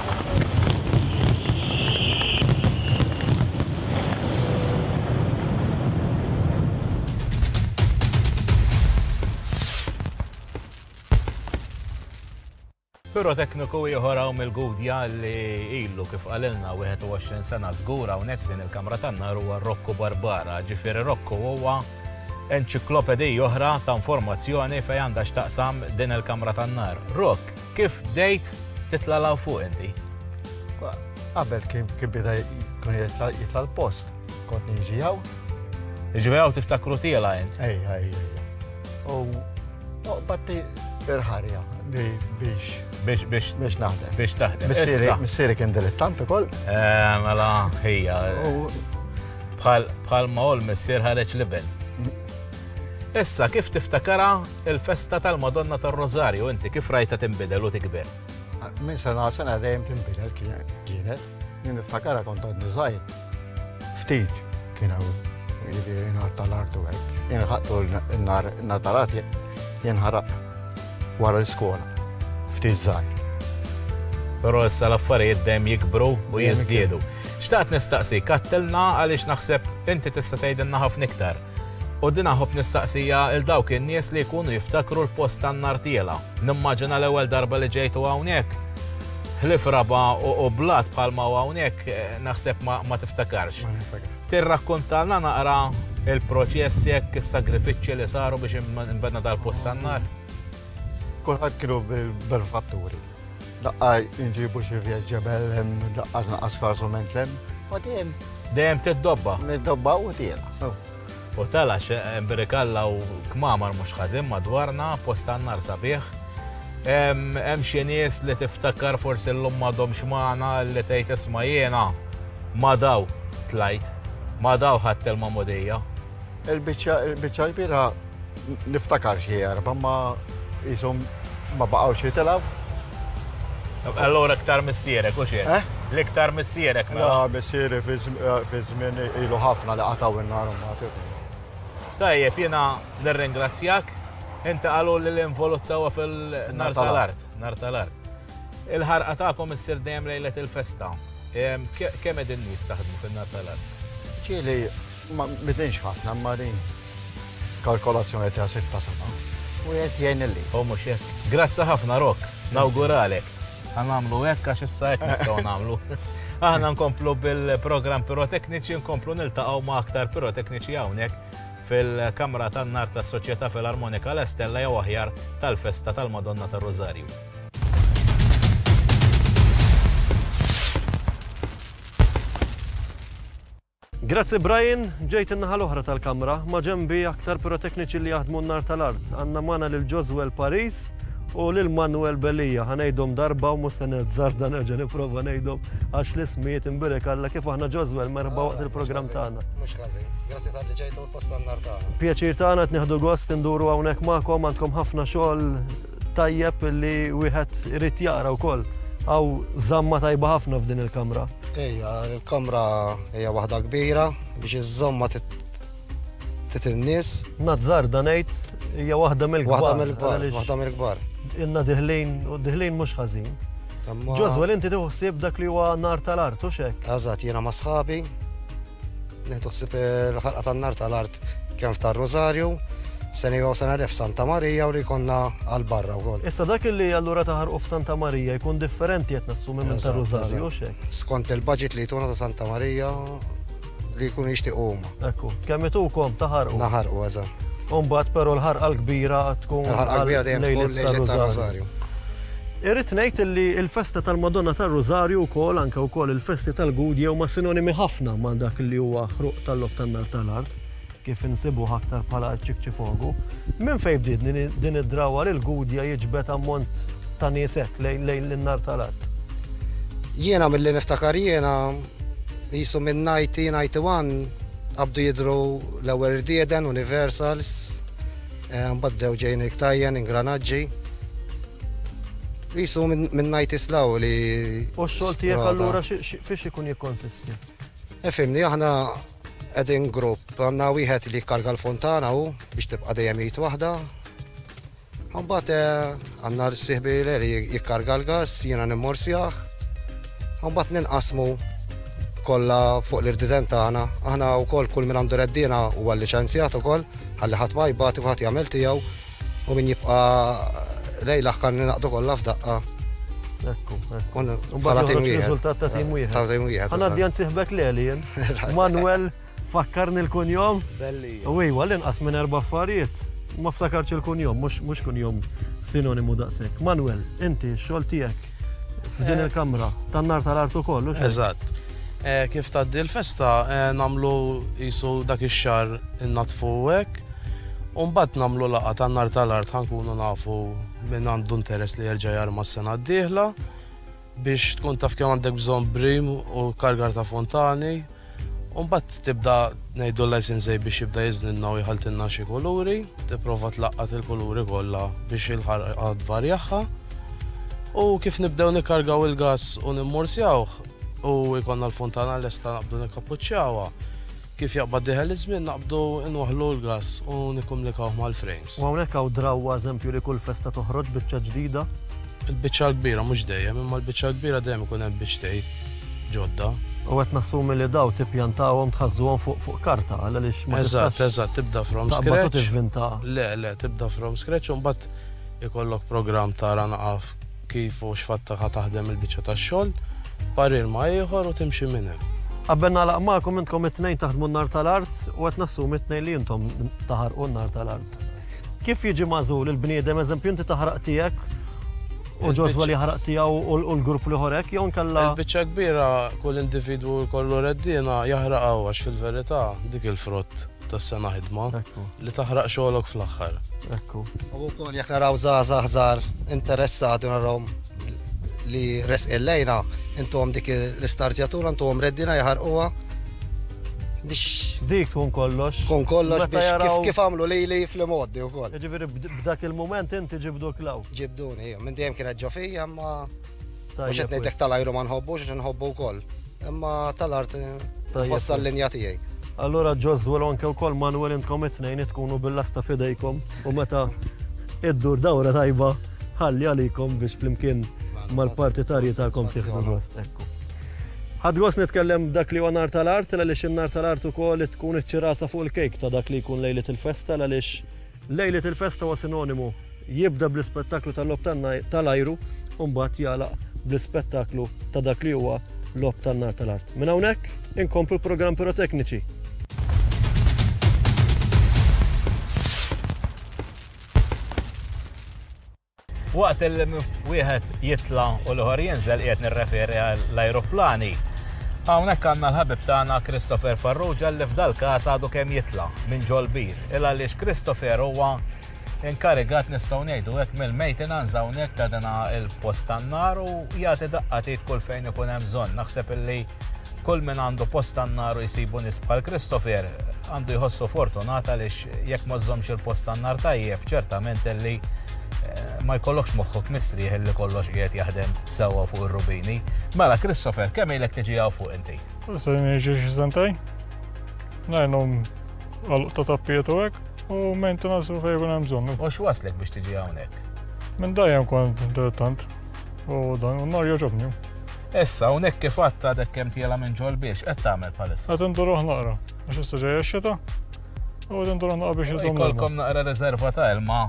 Pirotekniku ieħor hawn mill-Gudja li ilu kif qalilna 21 sena żgur hawnhekk din il-kamra tan-nar huwa Rokku Barbara. Ġifieri Rokku huwa enċiklopedija oħra ta' informazzjoni fejn għandha x'taqsam din il-kamra tan-nar. Rok, Kif bdejt titla' law fuq inti? Qabel kien kien bida jkun jitla' jitla' l-post, kont niġi hawn. Jiġifieri hawn tiftakru tiela' int? Ejja, ejja, ejja. U noqbad il-ħarja li biex Biex biex biex naħdem. biex taħdem. Missieri Issa, missieri kien dilettant ukoll. eh, mela ħija, U bħal bħal ma hu l-missier ħareġ l-iben. Issa kif tiftakarha Il-festa tal-Madonna tar-Rożarju inti kif rajtha tinbidel u tikber? Minn sena għal sena dejjem tinbidel kienet. Jien niftakarha kont għadni żgħir. Ftit kien hawn jiġifieri nar tal-artu hekk. Jien ħaqqtu n-nar tal-art jien ħaraq wara l-iskola. Ftit żgħir. Però issa l-affarijiet dejjem jikbru u jiżdiedu. Xtaqt nistaqsi, kattilna għaliex naħseb inti tista' tgħidilna ħafna iktar. U din aħobb nistaqsiha 'l dawk in-nies li jkunu jiftakru l-post tan-nartiela. Nimmaġina l-ewwel darba li ġejtu hawnhekk. Ħlief raba' u blat bħalma hawn hawnhekk, naħseb ma tiftakarx. Tirrakkuntalna naqra l-proċess hekk, is-sagrifiċċji li saru biex inbena dal-post tan-nar? Kulħadd kienu bil-manifatturi. Daqqa nġibu xi vjed ġebel hemm daqqa tnaqqas karsu minn hemm. U tien. Dejjem tiddobba. Niddobba u tien. U tala x'embrikalla u kmamar mhux ħażin madwarna, post għan-nar sabiħ. Hemm xi nies li tiftakar forsi llum m'għadhomx magħna li tgħid isma' jiena ma' daw tlajt, ma' daw ħadt il-magħmudija. Il-biċċa il-biċċa l-kbira niftakar xi erba' ma jisom ma baqgħux jitilgħu. Allora iktar missierek u xejn. Eh? L-iktar missierek mela. La missieri fi żmien ilu ħafna li qataw in-nar Tajjeb, jiena nirringrazzjak. Inti qalu li l-involuzzawa fil-nar tal-art. Nar tal-art. Il-ħarqa tagħkom issir dejjem lejlet il-festa. Kemm qegħdin nies taħdmu fin-Natalat? Ġieli, ma bidinx ħafna ma din kalkolazzjoni ta' sitta sena. U jgħid jgħin li. U mhux hekk. Grazzi ħafna Rok, nawguralek. Għanamlu hekk għax issa hekk nistgħu nagħmlu. Aħna nkomplu bil-programm pirotekniċi, nkomplu niltaqgħu ma' aktar pirotekniċi hawnhekk fil-Kamra tan-Nar tas-Soċjetà Filarmonika l-Estella jew aħjar tal-Festa tal-Madonna tar-Rożarju. Grazzi Brian, ġejt in-naħa l-oħra tal-kamra, ma ġembi aktar pirotekniċi li jaħdmu n-nar tal-art. Għanna mana lil Joswell Paris u lil Manuel Belija. Ħanejdom darba u musta nerġżar dan nerġa' nipprova ngħidhom għax l-ismijiet imbirek alla kif aħna Joswell merħba waqt il-programm tagħna. Mhux ħażin. Grazzi tal-li ġejtu post n-nar tagħna. Pjaċir tagħna qed nieħdu gost induru hawnhekk magħkom għandkom ħafna xogħol Tajjeb li wieħed irid jara wkoll għaw zamma tajba ħafna f'din il-kamra. Ejja, il-kamra hija waħda kbira biex iż-żomma titinnis. Nazzar danejt hija waħda mill-kbar. Waħda mill-kbar, waħda mill-kbar. Inna diħlin, u diħlin mhux ħażin. Ġozwel, inti tiħsib dak li huwa nar tal-artu xek? Eżatt, jiena ma' sħabi, Nieħdu ħsieb il-ħarqa tan-nar tal-art kemm f'tar-Rużarju, sena jew sena le f'Santa Marija u li jkollna għal barra wkoll. Issa dak li allura taħarqu f'Santa Marija jkun differenti qed nassumi minn tar-Rużarju, hux hekk? Skont il-budget li jtuna ta' Santa Marija li jkunu jixtiequ huma. Ekku, kemm itukom taħarqu? Naħarqu, eżatt. U mbagħad però l-ħarqa l-kbira tkun. Il-ħarqa l-kbira dejjem tkun lejlet tar-Rużarju. Irrid ngħid illi l-festa tal-Madonna tar-Rużarju wkoll, anke wkoll il-festi tal-Gudje huma sinonimi ħafna ma' dak li huwa ħruq tal-Logħob tan-Nar tal-Art, kif insibuh aktar bħala ċ-Ċikċifogu. Minn fejn bdiet din id-drawwa li l-Gudje jiġbed ammont ta' nies hekk lejn in-Nar tal-Art? Jiena milli niftakar jiena, qisu minn ninety, ninety one, qabdu jidhru l-ewwel rdieden, Universals, Mbagħad bdew ġejjin il-ktajjen, ingranaġġi. Qisu minn najt islaw li. U x-xogħol tiegħek allura fiex ikun jikkonsisti? Efimni, eh, aħna qegħdin grupp, għandna wieħed li jkarga l-fontana u biex tibqa' dejjem jgħid waħda. Mbagħad eh, Għan-nhar sieħbi Larry jikkarga l-gass, jiena nimmorsjah u mbagħad ninqasmu kollha fuq l-irdiden tagħna. Aħna wkoll kull min għandu reddiena huwa liċenzjat ukoll ħalli ħadd ma jbati u ħadd jagħmel tiegħu u min jibqa' lejl aħħar ninaqdu kollha f'daqqa. Ekku, ekku. Bħala tim wieħed. Riżultat ta' tim wieħed. Ħanaddi għand sieħbek Leli jien. Manuel Fakkarni l-kunjom? Belli. U iwa, l-inqas minn erba' affarijiet. Ma ftakarx il-kunjom, mhux kunjom sinonimu daqshekk. Manuel, inti x-xogħol tiegħek f'din il-kamra tan-nar tal-art ukoll, hux? Eżatt. Eh, kif tgħaddi l-festa eh, nagħmlu qisu dak ix-xahar innatfu hekk. U mbagħad nagħmlu laqgħa tan-nar tal-art ħankunu nafu minn għandu interess li jerġa' jarma s-sena d-dieħla. biex tkun taf kemm għandek bżonn brim u kargar ta' fontani, u mbagħad tibda ngħidu l-licensee biex jibda jiżninna u jħaltinna xi kuluri, tipprova tlaqqat il-kuluri kollha biex il-ħarqa tvarjaħħa. U kif nibdew nikkargaw il-gas u nimmursjawh u jkollna l-fontana lesta naqbdu nikkapuċċjawha, Kif jaqbad dieħel iż-żmien naqbdu nwaħħlu l-gass u nikkumlikawh mal-frejms. U hawnhekk hawn drawwa eżempju li kull festa toħroġ biċċa ġdida. Il-biċċa l-kbira mhux dejjem, imma l-biċċa l-kbira dejjem ikun hemm biċċtej ġodda. U qed nassumi li dawn tippjantahom, tħażżuhom fuq fuq karta għal għaliex ma tistax. Eżatt, eżatt, tibda from scratch. Taqbad u tivvinta. Le, le, tibda from scratch u mbagħad ikollok programm tara naqaf. Kif u x'fattaq ħa taħdem il-biċċa tax-xogħol, parir ma' ieħor u timxi minn hemm. Qabel nagħlaq magħkom intkom it-tnejn taħdmu n-nar tal-art u qed nassumi t-tnejn li intom taħarqu n-nar tal-art. Kif jiġi magħżul il-bniedem, eżempju inti taħraq tiegħek u Joswa li jaħraq tiegħu u l-grupp li ieħor hekk jew inkella. Il-biċċa kbira kull individwu jkollu reddiena jaħraqha hu għax fil-verità dik il-frott. tas-sena ħidma li taħraq xogħlok fl-aħħar. Ekku. U wkoll jekk naraw żgħażagħ żgħar interessati narawhom li resqil lejna, intuhom dik l-istartjatura, intuhom reddina jaħarquha biex. Dik tkun kollox. Tkun kollox biex kif kif għamlu li li fl-moddi u koll. Ġifiri b'dak il-moment inti ġibdu klaw. Ġibduni, minn dejjem kienet ġofija ma Mhux qed ngħidlek tal-ajru ma nħobbux għax inħobbu wkoll, imma tal-art nħossha l-linja tiegħi. Allura Joswell u anke wkoll Manuel intkom it-tnejn itkunu bil-lasta f'idejkom u meta iddur dawra tajba ħalli għalikom biex flimkien mal-partitarji tagħkom tieħdu gost. Ekku. Ħadd gost nitkellem dak li huwa nar tal-art għaliex in-nar tal-art ukoll tkun iċ-ċirasa fuq il-kejk ta' dak li jkun lejlet il-festa għaliex Lejlet il-festa huwa sinonimu, jibda bl-ispettaklu tal-logħob tan-nar tal-ajru u mbagħad jagħlaq bl-ispettaklu ta' dak li huwa logħob tan-nar tal-art. Minn hawnhekk inkomplu l-programm pirotekniċi. Waqt il wieħed jitla u l-ħor jinżel qiegħed nirreferi għall-ajruplani. Hawnhekk għandna l-ħabib tagħna Christopher Farrugia li f'dal-każ għadu kemm jitla minn ġol-bir. Il għaliex Christopher huwa inkarigat nistgħu ngħidu hekk mill-maintenance hawnhekk ta' dana il-post tan-nar u jagħti daqqatit kull fejn ikun hemm bżonn. Naħseb illi kull min għandu post tan-nar u jsibu nisbħal Christopher għandu jħossu fortunata lix jekk ma żżommx il-post tan-nar tajjeb, ċertament li eh, ma jkollokx moħħok mistrieħ li kollox qiegħed jaħdem sewwa fuq ir-rubini. Mela, Christopher, kemm ilek tiġi għaw fuq inti? Issa jiġi xi sentej. Ngħinhom għal ta' tappiet u hekk u maintenance u fejn hemm bżonn. U x'waslek biex tiġi hawnhekk? Minn dajjem kont dilettant u dan u nar joġobni. Issa, unek kif għatta dek kem tjela minn ġol biex, qed tagħmel palissa. Qed indur naqra, għax issa ġejja xita, U din dun naqqa biex iżomm. Kolkom naqra rezerva ta' ilma,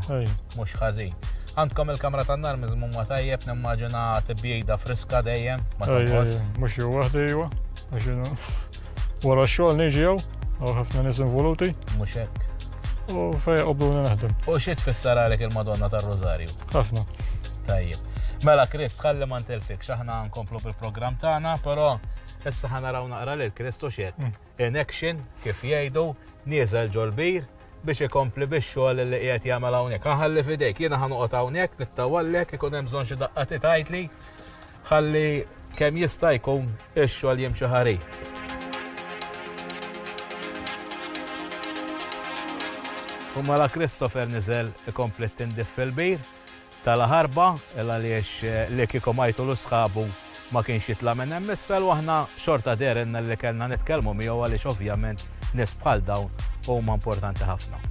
mux ħażin. Għandkom il-kamra tan nar mizmum ma tajjeb, nimmaġina tibjida friska dejjem, ma tajjeb. Mux jew waħda jew, għaxinu. Wara xogħol niġi jew, għaw ħafna nis involuti. Mux hekk. U fej qobdu naħdem. U xi tfisser għalek il-Madonna tar-Rożarju? Ħafna. Tajjeb. Mela Krist, ħalli ma ntilfik, xaħna nkomplu bil-programm tagħna, però issa ħanaraw naqra lil Kristu x'jekk. Mm. in action kif jgħidu, nieżel ġol-bir biex ikompli bix-xogħol li qiegħed jagħmel hawnhekk. Inħalli f'idejk, jiena ħa noqgħod hawnhekk nittawallek, ikun hemm bżonn xi daqqa ti tgħidli, ħalli kemm jista' jkun ix-xogħol jimxi ħarir. U mela Christopher niżel ikompli t-tindif fil-bir, ta' la ħarba, il għaliex li kieku Majtul u sħabu ma kienx jitla' minn hemm isfel u aħna xorta dehrilna li kellna nitkellmu miegħu għaliex ovvjament nies bħal dawn huma importanti ħafna.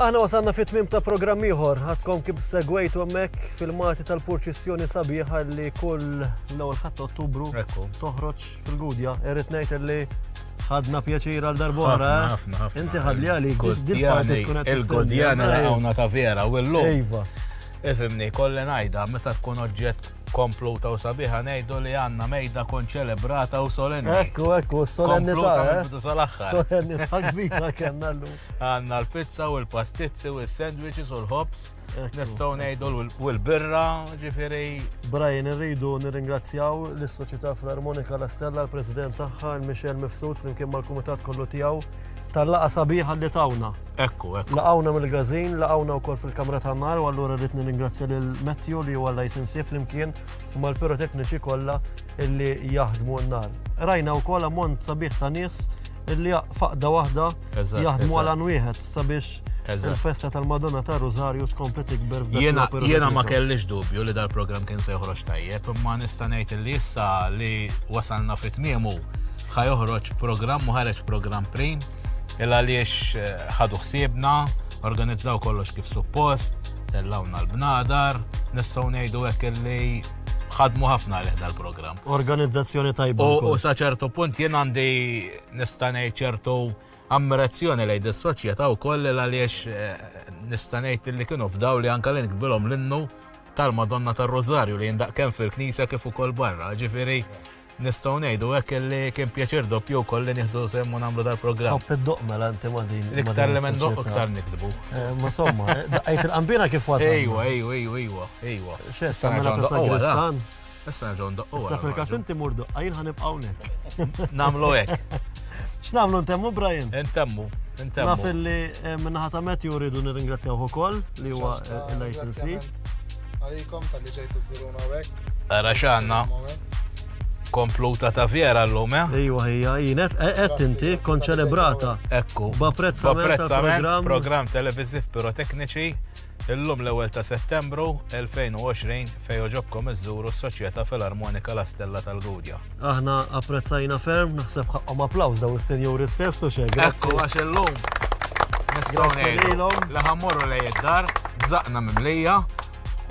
Aħna wasalna fit-tmiem ta' programm ieħor. Għadkom kif segwejtu hemmhekk filmati tal-purċissjoni sabiħa li kull l-ewwel ħadd Ottubru toħroġ fil-Gudja. Irrid ngħid li ħadna pjaċir għal darbora. Eh? Inti ħadli għalik dil-parti tkun qed il-Gudjana hawnna ta' vera u llum. Iva. Ifimni, kolli ngħidha meta tkun oġġett kompluta u sabiħa ngħidu li għandna mejda kon ċelebrata u solenni. Ekku, ekku, solenni ta' eh? solenni ta' kbira kellna llum. Għandna l-pizza u l-pastizzi u s-sandwiches u l-ħobs. Nistgħu ngħidu u l-birra, ġifieri. Brian, irridu nirringrazzjaw lis-Soċjetà Filarmonika La Stella, l-President tagħha, Michel Mifsud, flimkien mal-Kumitat kollu tiegħu tal-laqa sabiħa li tawna. Ekku, ekku. Laqawna mill-gazin, laqawna wkoll fil-kamra ta' nar, u allura rrid nirringrazzja lil Matthew li huwa licensee flimkien u mal-pirotekniċi kollha illi jaħdmu n-nar. Rajna wkoll ammont sabiħ ta' nies li faqda waħda jaħdmu għal għan wieħed sabiex il-festa tal-Madonna ta' Rosario tkompli tikber Jena ma kellix dubju li dal-program kien se joħroġ tajjeb, imma nista' ngħid li issa li wasalna fit tmiemu ħa joħroġ program u ħareġ program prim il għaliex eh, ħadu ħsiebna, organizzaw kollox kif suppost, tellawna l-bnadar, nistgħu ngħidu hekk li ħadmu ħafna għalih dal-programm. Organizzazzjoni tajba. U sa ċertu punt jien għandi nistanej ċertu ammirazzjoni lejn dis-soċjetà wkoll li għaliex eh, nistanejt li kienu f'daw li anka li nikbilhom l-innu tal-Madonna tar-Rożarju li jindaq kemm fil-Knisja kif ukoll barra. Ġifieri Nistgħu ngħidu hekk li kien pjaċir doppju wkoll li nieħdu sehem u nagħmlu dal-programm. Tħobb iddoqq mela inti ma' din. L-iktar li ma ndoqq iktar nikdbu. Eh, ma somma, eh, daqqajt il-qambina kif wasal. Ejwa, ejwa, ejwa, ejwa, ejwa. X'issa mela ta' sagristan. Issa nerġgħu ndoqqu. Issa fil-każ inti mur doqqa jien ħanibqa' hawnhekk. Nagħmlu hekk. X'nagħmlu ntemmu Brian? Intemmu. Naf li eh, minnaħa ta' Matthew rridu nirringrazzjaw ukoll li huwa l-license Għalikom tal-li ġejtu zzuruna għek. Għara xanna. Kompluta ta' fjera l-lum, eh? Ejwa, ejja, jinet, għed inti, kon ċelebrata. Ekku. B'apprezzament program. Program televiziv pirotekniċi. Illum l-ewel ta' settembru 2020 fej oġobkom iż-żuru s-Soċjetà Filarmonika La Stella tal-Gudja. Aħna apprezzajna ferm, naħseb ħaqqom applaws daw is-senjuri stess u xejn. Grazzi għax illum. Nistgħu ngħidu li ħammorru lej id-dar, bżaqna mimlija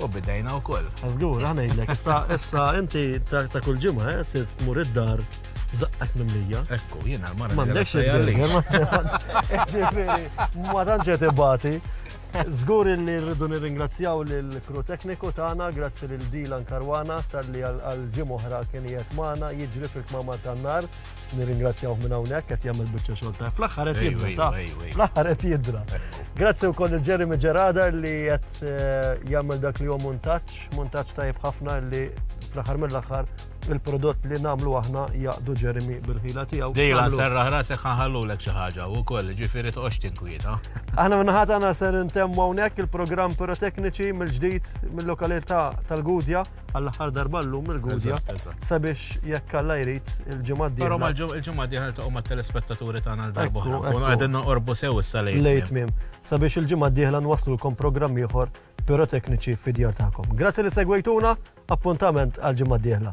u bidejna wkoll. Żgur, aħna ngħidlek, issa issa inti ta' kull ġimgħa eh, sirt tmur id-dar zaqqak mimlija. Ekku, jiena l-mara. M'għandekx il-għalli. Ġifieri, ma tantx qed ibati. Żgur illi rridu nirringrazzjaw lill-crew tekniku tagħna, grazzi lil Dylan Caruana talli għal ġimgħa oħra kien qiegħed magħna jiġri fil-kmamar tan-nar. Nirringrazzjawh minn hawnhekk qed jagħmel biċċa xogħol tajjeb. Fl-aħħar qed jidra ta' fl-aħħar qed jidra. Grazzi wkoll lil Jeremy Gerada li qed jagħmel dak li hu muntaġġ, muntaġġ tajjeb ħafna li fl-aħħar mill-aħħar il-prodott li namlu aħna jaqdu Jeremy bil-ħila tiegħu. Dejla serraħ rasek ħanħallulek xi ħaġa u koll ġifieri toqgħodx tinkwieta. Aħna minnaħat għana ser intemmu hawnhekk il-programm pirotekniċi mill-ġdid mill-lokalità tal-Gudja għall-aħħar darba llum il-Gudja sabiex jekk alla jrid il-ġimgħa d Però il-ġimgħa d ta' umma telespettaturi tagħna l-darba oħra. Qegħdin noqorbu sew issa lejn. Lejt mim. Sabiex il-ġimgħa d-dieħla nwaslulkom programm ieħor pirotekniċi fid-djar tagħkom. Grazzi li segwejtuna, Appuntament għall-ġimgħa d-dieħla.